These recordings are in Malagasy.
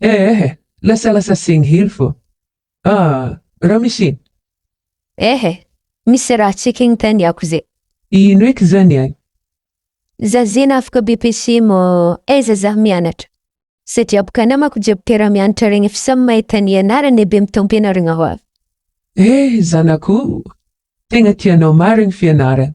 Eh eh eh, lasalasa segny hely fô. Ah, raha misy iny. Eh eh, misy raha checking ten yako ze. Ino eky zany an? Za zena afaka BPC mô aiza za mianatra? Satria boka namako jiaby mpiara-mianatra regny efa samy mahita ny anarany e be mitam-pianaragna ho avy. Eh, zanakoo, tegna tianao marigny fianaragna.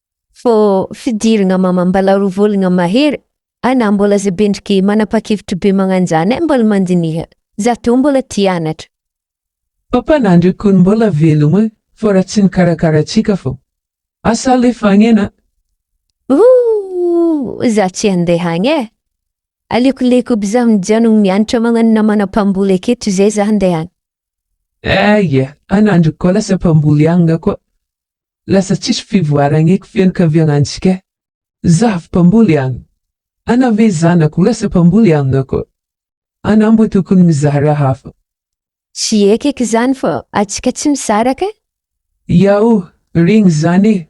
Fô fidiragna mamam-balaroa vôlagna mahery, ana mbôla za bendrike manapa-kevitry be magnanjany ai mbôla mandiniha za tô mbôla ty anatra. Papa nandry kony mbola velogno e fô ra tsy nikarakara atsika fô asa alefa agny ana. Ooh za tsy handeha agny e aleoko leiko aby za mijanogno mianatra magnano namana mpamboly aketo zay za handeha agny. Eia ana andry koa lasa mpamboly agny koa Lasa tsisy fivoaragna eky fianakaviagnantsika. Zaho mpamboly agna. Anao ve zanako lasa mpamboly agna koa. Anao mbo tokony mizara hafa. Tsy eky eky zany fa atsika tsy mizara kay. Iao, regny zany e.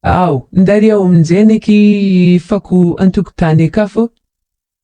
Ao, ndariao aminjegny eky fako antokotany aka fô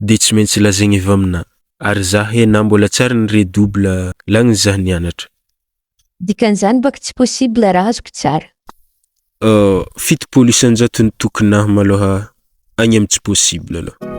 de tsy maintsy lazaigny avy aminah ary zah he na mbola tsy ary nire double langue zah nianatra. Dikan'izany baka tsy possible raha azoko tsara. Euh fitopolo isanjato ny tokinah maloha agny am tsy possible aloha.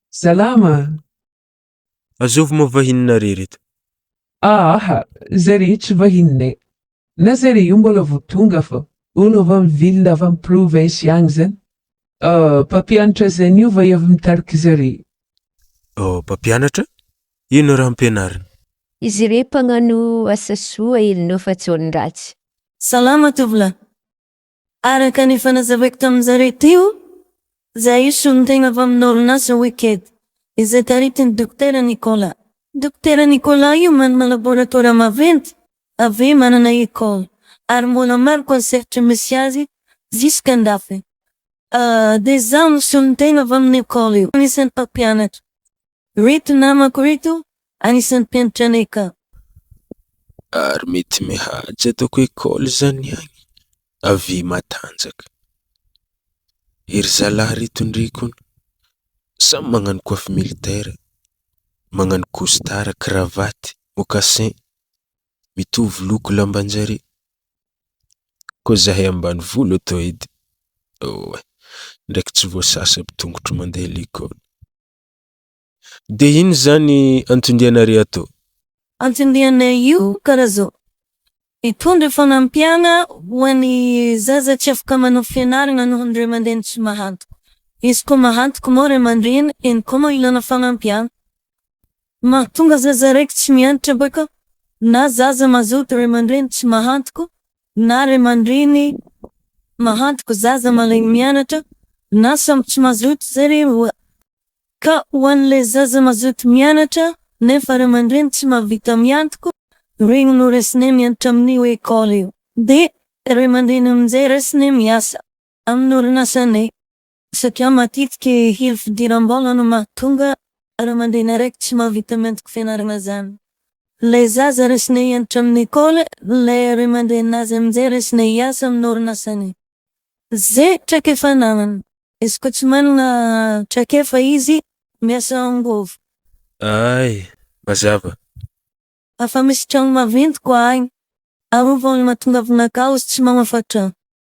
Salama a! Azovy moa vahininareo ireto? Aaha, zay rehetra vahininay. Na zay re io mbola vao tonga fa. Olo avy amin'ny ville na avy amin'ny province agny zany. Ah, mpampianatra zay niova i avy mitarika zare. Oh, mpampianatra? Inona raha ampianariny? Izy re mpagnano asa soa e, no fa tsy olon-dratsy. Salama tovolahy. Araka ny efa nazavaiko tamin-dry zareo teo, izahay io solon-tena avy amina orinasa Wicked, izay taritin'i Dokotera Nicolas. Dokotera Nicolas io manana laboratora maventy, avy eo manana école, ary mbola maro koa ny sehatry misy azy jusqu'à andafy. Dia izaho no solon-tena avy amin'ny école io, anisan'ny mpampianatra. Ireto namako ireto anisan'ny mpianatra anay ka. Ary mety mihaja ataoko école zany agny avia matanjaka. Ery zalahy ry tondré koun samy magnano coiffe militaire, magnano costard, cravate, mocassin, mitovy loko lambanjare. Koa zahay ambanivolo eto edy, oh eh, ndraiky tsy voasasa aby tongotro mandeha l'école. De ino zany antondiana re ato? Antondiana io karaha zao, Hitondra fanampiana ho an'ny zaza tsy afaka manao fianarana noho ny ray aman-dreny tsy mahantoka. Izy koa mahantoka moa ray aman-dreny, eny koa moa ilana fanampiana. Mahatonga zaza raiky tsy mianatra baka na zaza mazoto ray aman-dreny tsy mahantoka na ray aman-dreny mahatoky zaza marainy mianatra na samy tsy mazoto izay re oa. Ka ho an'ilay zaza mazoto mianatra nefa ray aman-dreny tsy mahavita miantoko, ireny no raisina mianatra amin'ny hoe école io. Dia ray aman-dreny amin'izay raisina miasa amin'ny orinasanay. Satria matetika hery fidiram-bola no mahatonga ray aman-dreny araiky tsy mahavita ny antoko fianarana zanany. Ilay zaza raisina hianatra amin'ny lekôly, ilay ray aman-dreny azy amin'izay raisina hiasa amin'ny orinasany. Izay traikefa ananany. Izy koa tsy manana traikefa izy, miasa angovo. Ay, mazava. Afa-misy trano maventy koa agny. Arovy olona tonga vinakazo tsy mamafa trano.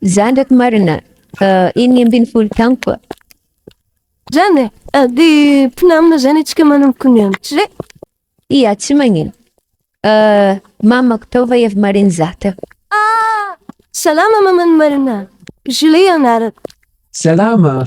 Za ndraiky marina eniny ambin'ny folo taogno koa. Zany e, de mpinamana zany atsika manomboka ny andro re. Ia tsy magnino. Mamako tao va ev marin za teo. Ah! Salama maman'i Marina. Julie anarako. Salama!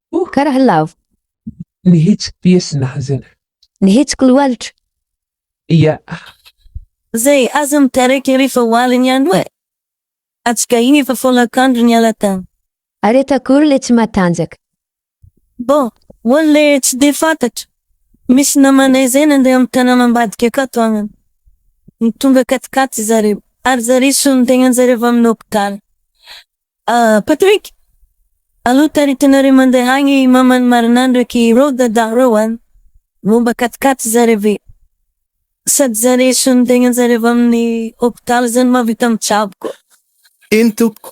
Oh, ka raha lavo! Ny hetsiky piesy nahazo ahy. Ny hetsiky lohalitra. Ia. Izay aza mitarika ery fa ho alina ihany hoe. Atsikahiana efa folakandro niala tany. Ary eto akory ilay tsy matanjaka. Bon, ho an'ilay tsy dia fantatra, misy namanay izay nandeha amin'ny tanàna ambadika akato agnana. Nitondra katikaty zareo, ary zary solon-tegnan-jareo avy amin'ny hopitaly. Ah Patrick! Alou taritinareo mandeha agny maman'i Marina ndraiky ireo Dadah reo an! Momba katikaty zare ve? Sady zare sonintegnanjare avy amin'ny hopitaly zany mahavita mitsabo koa. Eny tompoko.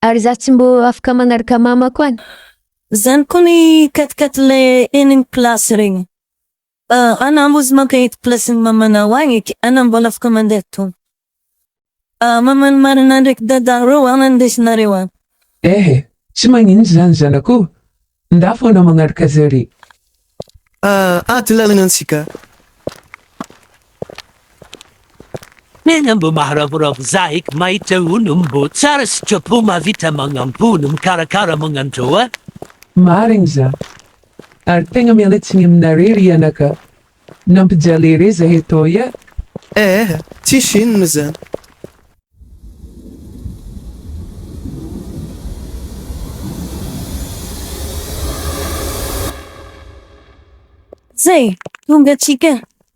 Ary za tsy mbô afaka magnaraka mamako any? Zany koa ny katikaty le eny ny place regny. Ana mbola maka eto place ny mamanao any eky. Ana mbola afaka mandeha tompoko. Mama ny marina ndraiky dada reo ana ny ndesinareo any. Ehe tsy magnino zany zanako ndao fona magnaraka zare. Ady lalana antsika. Tena mbo maharavoravo za eky mahita olo mbo tsara sitrapo mahavita magnamboly mikarakara magnandreo a. Marigny za. Ary tegna miala tsiny aminare ry anaka nampijaly ere zahe toy a. Eeh tsisy inona zany. Zay! Tonga atsika!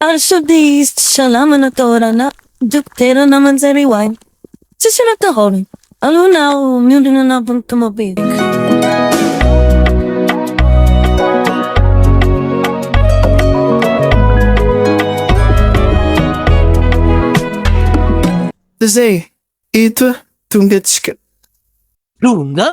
Ary sao dia hisy tsy salama natao ranà dokotera namanjare ho ahy. Tsisy natahorany. Aleo na aho miondrona anatin'ny tomobilina. Zay! Eto tonga tsika. Tonga!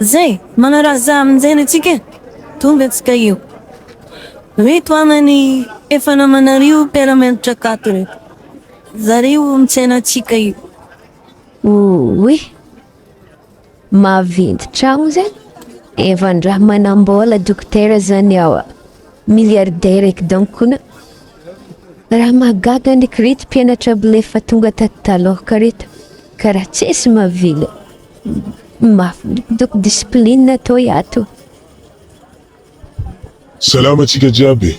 Zay, manaraha za amin-jainy antsika e! Tonga antsika eo. Reto angany efa namanareo mpiara-mianatra tato reto. Zareo misaina antsika io. Oy! Maventy tragno zay efa ndra manambola dokotera zany awa milliardaire eky donc kona Raha mahagaga ndreky reto mpianatra mbola efa tonga tato taloha ka reto ka raha tsisy mavila mafy donc discipline atao iato. Salama antsika jiaby e!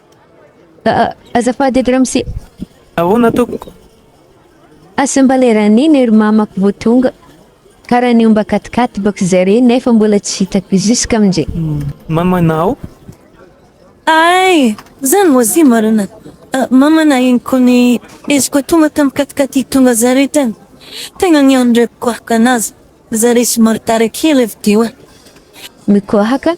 Azafady eto ramose. Ahoana tompoko? Asa mba le raha nino ery mamako vao tonga. Karaha ny omba katikaty bako zareo nefa mbola tsy hitako jusk'amin'izay. Mamanao? Ay! Zany moa si marina. Mamana iny ko ny eziko tonga tam katikaty tonga zareo tany. Tegna nianreko kohaka anazy. Zareo somary tara kely avy teo an. Mikohaka?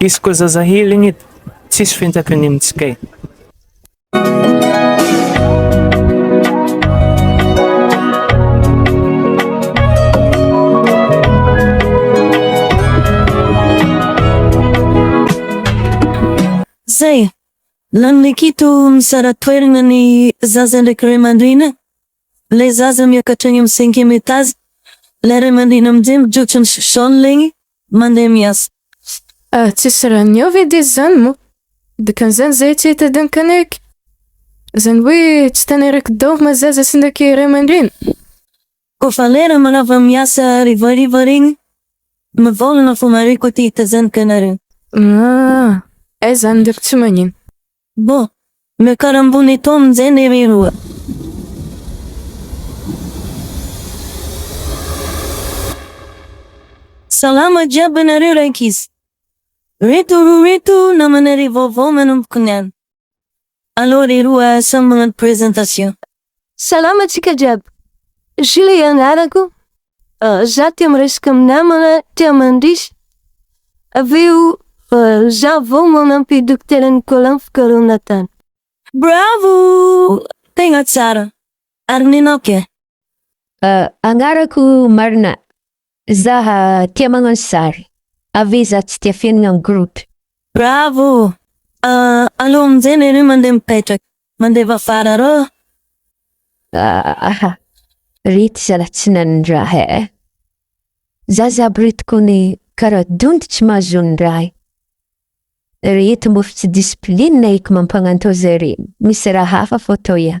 Izy koa zaza healing eto, tsisy fentaka ny amintsy kay. Zay! Lany lekito misara toerana ny zaza ndraiky ray aman-dreny. Ilay zaza miakatra eny amin'ny cinquième étage. Ilay ray aman-dreny amin'izay mijotso ny sous-sol ilay mandeha miasa. Ah tsisy raha niova edy izy zany moa. Dikan'izany zay tsy hitadiany kanaiky. Zany hoe tsy taneraky daoly ma zaza sy ndaky ray aman-dreny? Ko fa ilay raha manava miasa hariva hariva reny mivaolana fo marihiko ity hitazaniko ianareo. Ah aiza any ndreko tsy magnino. Bon! Mikarambony eto amin'izay ny riroa. Salama jiaby anareo rankizy. Reto roa reto namanareo vaovao manomboka ny any. Allo riroa samy magnano présentation. Salama antsika jiaby. Gilles anarako. Za tia miresaka amin'ny namana, tia mandrisy. Avy eo, za vao manampy Dokotera Nicolas ny fikarohana tany. Bravo! Tegna tsara. Ary nenao ke? Anarako marina. Za tia magnano sary. Ave za tsy tia fenina am group. Bravo! Aleo aminjay lery mandeha mipetraka. Mandeha vavara rô. Ahh re ty zala tsy nanindraha eh. Za za aby reto kone kara donto tsy mahazo ny raha. Reto mbo ftsy discipline eky mampagnantô zay re misy raha hafa fô atao iany.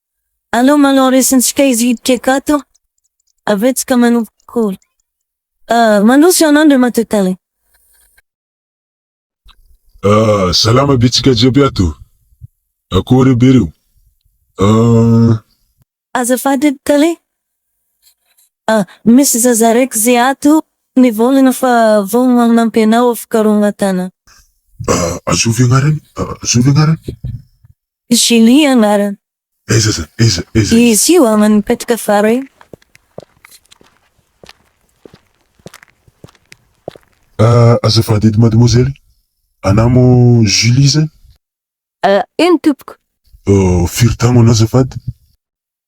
Aleo manao resintsika izy hiditra akato avy eo tsika manomboka cours. Mandroso ianao Andriamatoa Tale. Ah, salama be tsika jiaby ato. Akory aby reo. Ah. Azafady edy Tale. Ah, misy zaza raiky ze ato nivôlagna fa vao magnampy anao fikarohagna tana. Ah, azovy agnarany? Azovy agnarany? Julie anarany. Aiza za? Aiza? Aiza izy? Izy io aman' ny petraka fara io. Ah, azafady edy mademoiselle, anamo Julie izany? Ah, eny tompoko. Oh, firy tagnona azafady?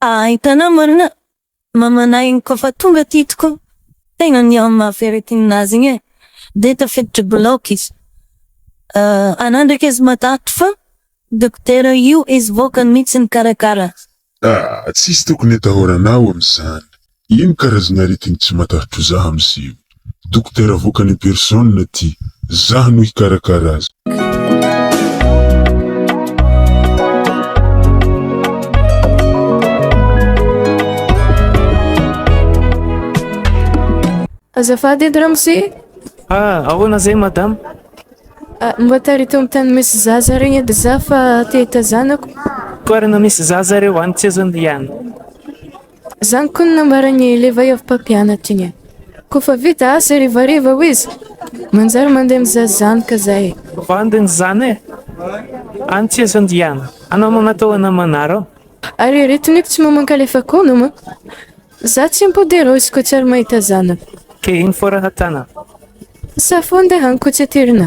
Ahitana marina mamanay iny kofa tonga aty tokoa tegna ny am maha ferretine nazy igny e de tafiditry bloc izy ana ndraiky izy matahotry fa dokotera io izy vokany mitsy nikarakara azy. Ah tsisy tokony atahoranao amizany Ino karazana aretigny tsy matahotro zah am seho. Dokotera avoakany en personne ty zah no hikarakara azy. Azafady edy ramose e. Ah, ahoana izay madama? Ah, mba tariho tao amin'ny tany misy zaza regny edy za fa te hitazanako. Toerana misy zaza reo any tsy azo andehanana. Zany ko no nambaran'i Levay avy mpampianatra iny eh. Ko fa vita asa harivariva hoy izy, manjary mandeha mizaha zanoka zay eh. Bandiny zany eh. Any tsy azo andiana. Anao manatao ana manarao. Ary ireto niko tsy mamankalefaka hono hono. Za tsy mpo de raozy ko tsy ary mahita zanaka. Ke iny fo raha tana. Safonde Hankotsitirina.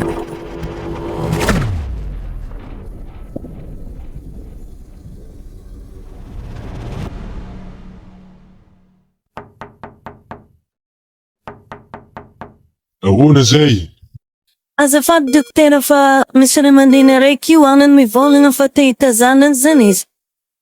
Ahoana izay? Azafady dokotera fa misy ray aman-dreny araiky io anany mivolagna fa te hitazana an'izany izy.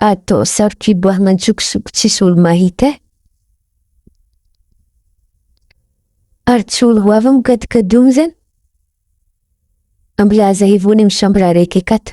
Ato saro-piboahana an-tsokosoko tsisy olo-mahita eh. Ary tsy olo ho avy mikadikadogna zany. Mbola aza hevogna amin'ny chambre araiky akato.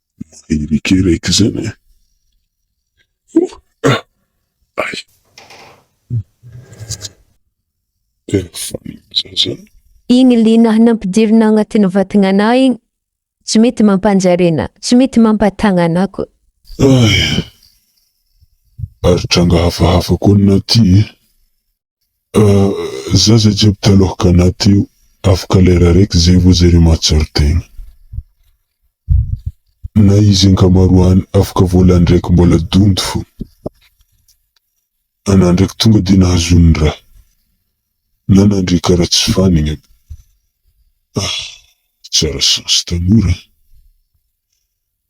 Maherika raiky zany e! Ohh ah ay! Tena faly za zany. Igny lina nampidirina agnatin'ny vatagnanà igny tsy mety mampanjary anà, tsy mety mampatagna anà koa. Ay! Ary tranga hafahafa koa anà ty e! Zaza jiaby taloha Ghana teo afaka lera raiky zay vo zare matsor tegna. Na izy ankamaroany afaka volany raiky mbola donto fona. Ana ndraiky tonga de nahazo ny raha. Na nandre kara tsy fanigny aby. Ah tsara chance tanora an.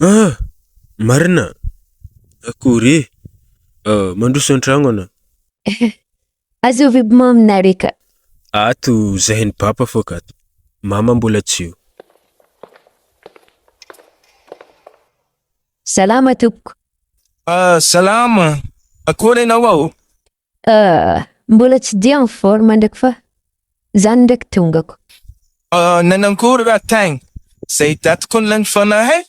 Ah! Marina? Akory e! Mandroso an-tragno anà. Azeo ve bomamy nareka? Ato zahay ny papa fô kato. Mama mbola tsy eo. Salama tompoko. Ah, salama. Akory ianao ao? Ah, mbola tsy dia en forme ndraiky fa zany ndraiky tongako. Ah, nanangory raha tagny. Zay daty kony lany fona eh!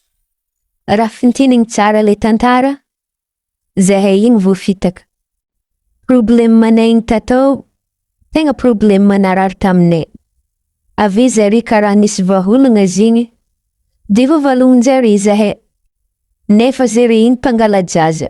Raha fintinigny tsara le tantara, zahay igny vo fitaka. Problemanay igny tatao, tegna problema narary taminay. Ave zare karaha nisy vaholagna zigny, de vovalognin-jare zahay. Nefa zare igny mpangala-jaza.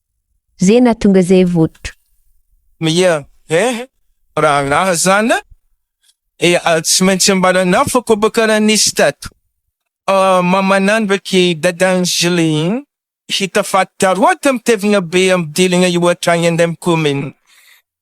Ze nahatonga ze votro. Ia eh, rahalahy zan a! Ia, tsy maintsy ambaranao fa koa ba karaha nisy tato mamanà ndraiky dadan'i Julie iny hita faty taroa tam tevina be am diligna io hatrany an dem commune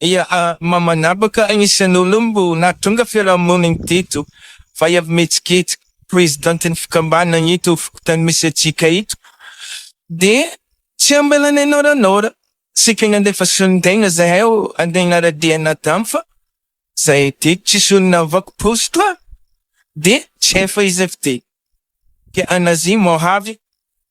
Ia, maha manapaka ny isan'olo mbo nahatonga fiarahamonina teto fa efa mihetsiketsika. Prezidantin'ny fikambanana eto fokontany misy antsika eto dia tsy ambalana inoranora. Saika nandefa solondaina zahay handeha hanara-dia anà tany fa zay dia tsisy olona nivaky poste dia tsy hay faiza fidiny. Dia an'Azia moa avy